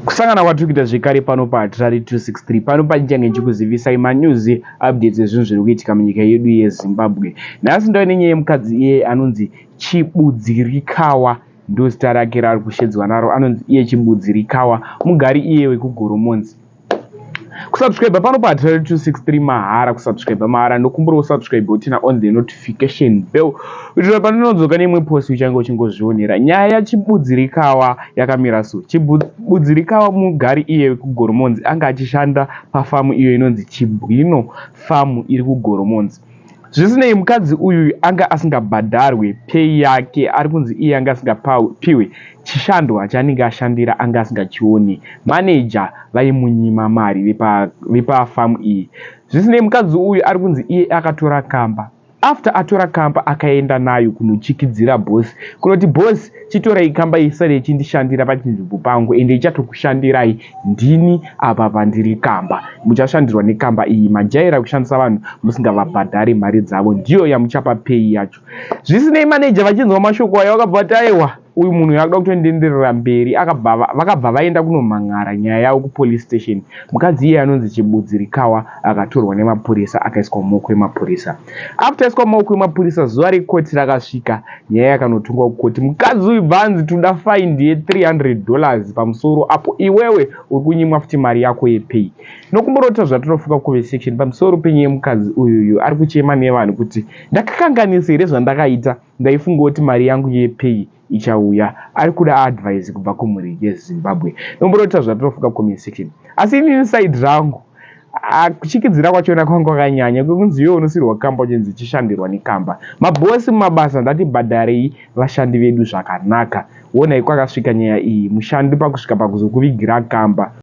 kusangana kwatiri kuita zvekare pano pahatirari 263 pano pandichange ndichikuzivisai manews updates ezvinhu zviri kuitika munyika yedu yezimbabwe nhasi ndave nenyaya yemukadzi iye anonzi chibudzirikawa ndozita rake raari kushedzwa naro anonzi iye chibudzirikawa mugari iye wekugoromonzi kusubscribe pano pa 263 mahara kusubscribe mahara ndokumbura usubscribe utina on the notification bell kuitira pandinodzoka neimwe post uchange uchingozvionera nyaya yachibudzirikawa yakamira so chibudzirikawa mugari iye kugoromonzi anga achishanda pafamu iyo inonzi chibwino famu iri kugoromonzi Zvisinei, mukadzi uyu anga asingabhadharwe pay yake, ari kunzi iye anga asingapiwe chishandwa chaanenge ashandira anga asingachione, manager vaimunyima mari vepafarm iyi. Zvisinei, mukadzi uyu ari kunzi iye akatora kamba, after atora kamba akaenda nayo kunochikidzira boss kunoti boss, Chitorei kamba isare ichindishandira pachinzvimbo pangu ende ichatokushandirai ndini apa pandiri kamba. Muchashandirwa nekamba iyi. Majaira kushandisa vanhu musingavabhadhare mari dzavo ndiyo yamuchapa pay yacho. Zvisinei manager vachinzwa mashoko aya vakabva vati aiwa uyu munhu uyu akuda kutondienderera mberi akabva vakabva vaenda kunomhan'ara nyaya yavo kupolice station. Mukadzi iye anonzi Chibudzirikawa akatorwa nemapurisa akaiswa mumaoko emapurisa. After aiswa mumaoko emapurisa zuva rekoti rakasvika nyaya yakanotongwa kukoti mukadzi uyu bvanzi toda find ye 300 dollars pamusoro apo iwewe uri kunyimwa futi mari yako yepay nokumborota zvatinofuka kuve section pamusoro penyaya yemukadzi uyuyu ari kuchema nevanhu kuti ndakakanganisa here zvandakaita ndaifunga kuti mari yangu yepay ichauya ari kuda advise kubva kumhuri yezimbabwe nomborota zvatinofuka comment section asi inini side rangu Ah, kuchikidzira kwachona kwanga kwakanyanya kwekunzi iwe unosirwa kamba uchinzi chishandirwa nekamba mabhosi mumabasa ndatibhadharei vashandi vedu zvakanaka wonai kwakasvika nyaya iyi mushandi pakusvika pakuzokuvigira kamba